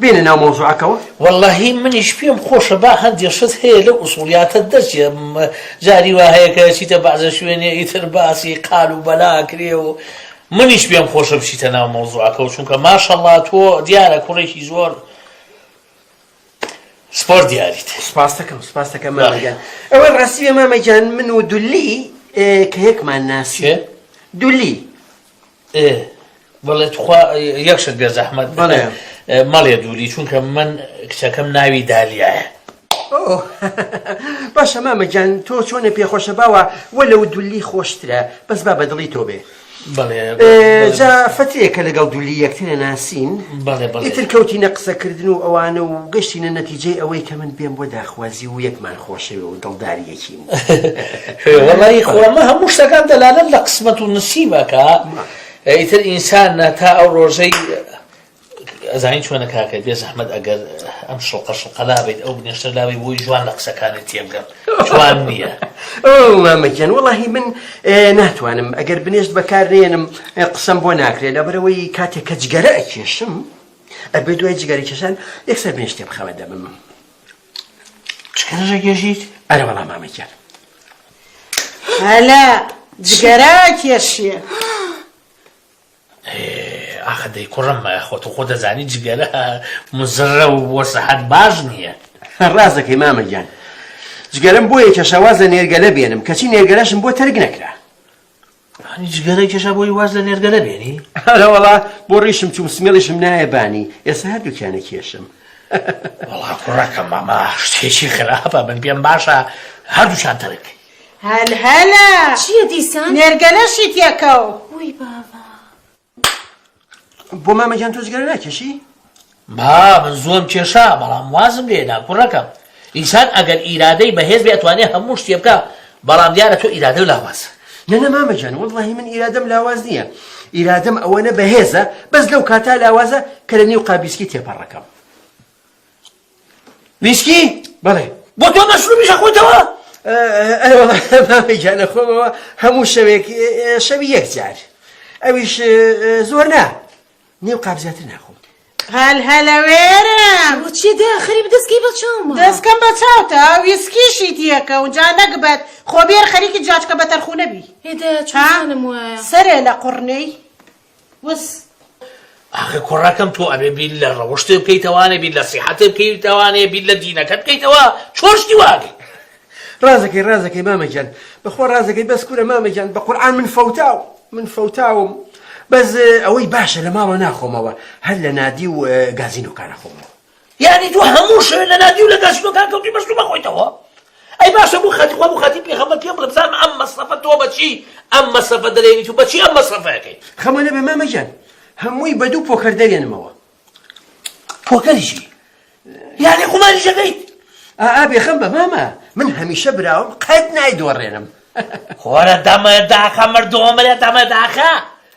بێنە ناو مەوزوعەکەوە. وەللەهی منیش پێم خۆشە با هەندێ شت هەیە لەو ئوسوڵیاتە دەرچێ جاری وا هەیە کە ئەچیتە بەعزە شوێنێ ئیتر باسی قال و بەلا ئەکرێ و منیش پێم خۆشە بچیتە ناو مەوزوعەکەەوە چونکە ماشەڵڵا تۆ دیارە کوڕێکی زۆر سپۆر دیاریت سپاستەکەم سپاستەکە مامەگیان ئەوەی ڕاستیە مامەگیان من و دولی کە یەکمان ناسی دولی بەڵێ تخوا یەک شت بێ زەحمەت بەڵێ مەڵێ دووری چونکە من کچەکەم ناوی دالیایە باشە مامەجان تۆ چۆنە پێخۆشە باوە وە لەو دولی خۆشترە بەس با بەدڵی تۆ بێ جا فترێکە لەگەڵ دولی یەکترە ناسین ئیتر کەوتینە قسەکردن و ئەوانە و گەشتینە نەتیجەی ئەوەی کە من بێم بۆ داخوازی و یەکمان خۆشەوە و دڵداریەکی وەڵایی خۆمە هەموو شتەکان دەلالەت لە قسمەت و نسیب ئەکا ئیتر ئینسان ناتا ئەو ڕۆژەی ئەزانین چۆنە کاکە بێ زەحمت ئەگەر ئەم شڵقە شڵقەلا بێت ئەو بنێشتە لاوی بۆی جوان لە قسەکانی تێبگەم جوان نییە مامەکیان وڵی من ناتوانم ئەگەر بنێشت بەکارێنم قسەم بۆ ناکرێت لە بەرەوەی کاتێک کە جگەرە ئەکێشم ئەبێ دوای جگەرە کێشان یەکسەر بنێشتێ بخەوە دەبم چکەرەژە گێژیت ئەرە بەڵا مامە گیان هەلا جگەرا کێشیە ئاخە دەی کوڕم خۆت خۆ دەزانی جگەرە مزڕە و بۆ سەحەت باش نییە ڕاستەکەی مامە گیان جگەرم بۆ یەکەشەواز لە نێرگەلە بێنم کەچی نێرگەلەشم بۆ تەرگ نەکرا ئەنی جگەرەی کێشا بۆی واز لە نێرگەلە بێنی ئەرەوەڵا بۆ ڕیشم چوم سمێڵیشم نایە بانی ئێستا هەردووکیانە کێشم وڵا کوڕەکە مامە شتێکی خراپە من پێم باشە هەردووشان تەرک هەل هەلە چییە دیسان نێرگەلەشی تێکەو وی بابا بۆ مامە گیان تۆ جگەرە ناکێشی ما من زۆم کێشا بەڵام وازم لێدا کوڕەکەم ئینسان ئەگەر ئیرادەی بەهێز بێ ئەتوانێ هەموو شتێ بکە بەڵام دیارە تۆ ئیرادە لاواز نەنە مامەجان وڵی من ئیرادەم لاواز نییە ئیرادەم ئەوەنە بەهێزە بەس لەو کاتا لاوازە کە لە نێو قابیسکی تێپەڕەکەم ویسکی؟ بەڵێ. بۆ تۆ مەشروبیش ئەخۆیتەوە؟ ئەرێوەڵا مامە گیان ئەخۆمەوە هەموو شەوێک شەوی یەک جار ئەویش زۆر نا نێو قاپ زیاتر ناخۆم هەل هەلەوێرم چی داخری دەستکی بە چاوم دەستکەم بە چاوتە ویسکیشی دیەکە و جا نەگبەت خۆبێر خەریکی جاچکە بە تەرخونەبی هێدا چانم وایە سەرێ لە قڕنەی وس. ئاخر کوڕەکەم تۆ ئەبێ بیر لە ڕەوشتێ بکەیتەوە نەبیر لە سیحەتێ بکەیتەوە نێ بیر لە دینەکەت بکەیتەوە چۆن شتی واگەی ڕازەکەی ڕازەکەی مامە گیان بەخوا ڕازەکەی بەس کورە مامە گیان بە قورعان من فەوتاو من فەوتاوم بەس ئەوەی باشە لە ماڵەوە ناخۆمەوە هەر لە نادی و گازین و کارە خۆمەوە یانی تۆ هەموو شەوێ لە نادی و لە گەشتەکان کەوتی بەستو بەخۆیتەوە ئەی باشە بۆ خەتی خوا بۆ خەتی پێغەمبەر پێم بڵێ بزانم ئەم مەسرەفە تۆ بەچی ئەم مەسرەفە دەرێنیت و بەچی ئەم مەسرەفەکەی خەمە لێ بێ مامەگیان هەمووی بە دوو پۆکەر دەرێنمەوە پۆکەریشی یانی قوماری شەکەیت ئا بێخەم بە مامە من هەمیشە براوم قەت نایدۆڕێنم خوارە دامە داخە مردۆمەێ دامە داخە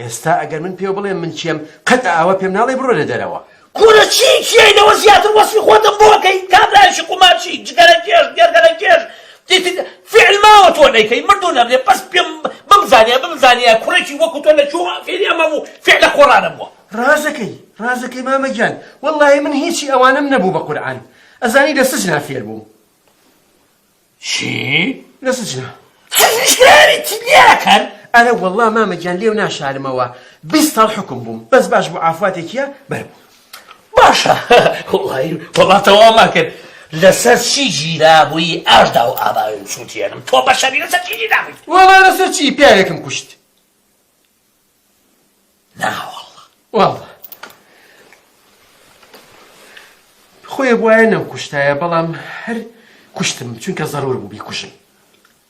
ئێستا ئەگەر من پێو بڵێم من چیم قەت ئاوا پێم ناڵێ بڕۆ لە دەرەوە. کورە چی چیەی لەوە زیاتر وەسفی خۆتم بۆ ئەکەی کابرایشی قومارچی جگەرە کێش گێرگەرە کێش فعل ماوە تۆ نەیکەی مردوو نەبێ بەس پێم بمزانیە بمزانیە کوڕێکی وەکو تۆ لە چووە فێری ئەمە بوو فعلە قۆڕانە بووە ڕازەکەی ڕازەکەی مامە گیان وەڵڵاهی من هیچی ئەوانم نەبوو بە قورعان ئەزانی لە سجنا فێر بووم چی؟ لە سجنە. سجنیش کراوی چیت لێ ئەکەن؟ ئەرە وەڵڵا مامە گیان لێو ناشارمەوە بیست ساڵ حوکم بووم بەس باش بوو عافواتێکیە بەر بوو. باشە وەڵایی وەڵا تەوامان کرد لەسەر چی گیرابووی ئاشدا و ئاباوێن سووتێنم تۆ بەشەری لەسەر چی گیرابووی؟ وەڵا لەسەر چی پیاوێکم کوشت. ناوەڵڵا وەڵڵا خۆێ بواە نەم کوشتایە بەڵام هەر کوشتم چونکە زەرور بوو بیکوشم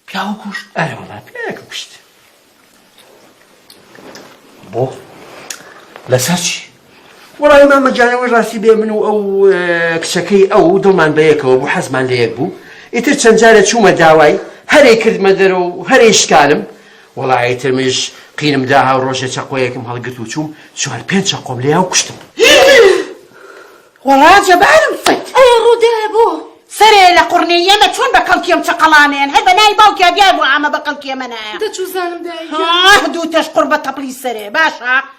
پیاوە کوشت ئەرە وەڵا پیاکە کوشت بۆ لەسەر چی وەڵایی مامە گیان ئەوەی ڕاستی بێ من و ئەو کچەکەی ئەو دڵمان بەیەکەوە بوو حەزمان لە یەک بوو ئیتر چەند جارە چوومە داوای هەرێ کردمە دەرە و هەرێ شکانم وەڵایی تر منیش قینم دا هاو ڕۆژێ چەقۆیەکم هەڵگرت و چووم چوار پێنج چەقۆم لێ هاو کوشتم وەڵا جەبارم فەت ئەی ڕوودە بۆ سەرێ لە قڕنێ یەمە چۆن بە کەڵکیەم چقەڵانێن هەر بە نای باوکیا دیار بۆ ئامە بە کەڵکیە منە دەچوزانم دوو تەش قڕ بە تەپڵی سەرێ باشە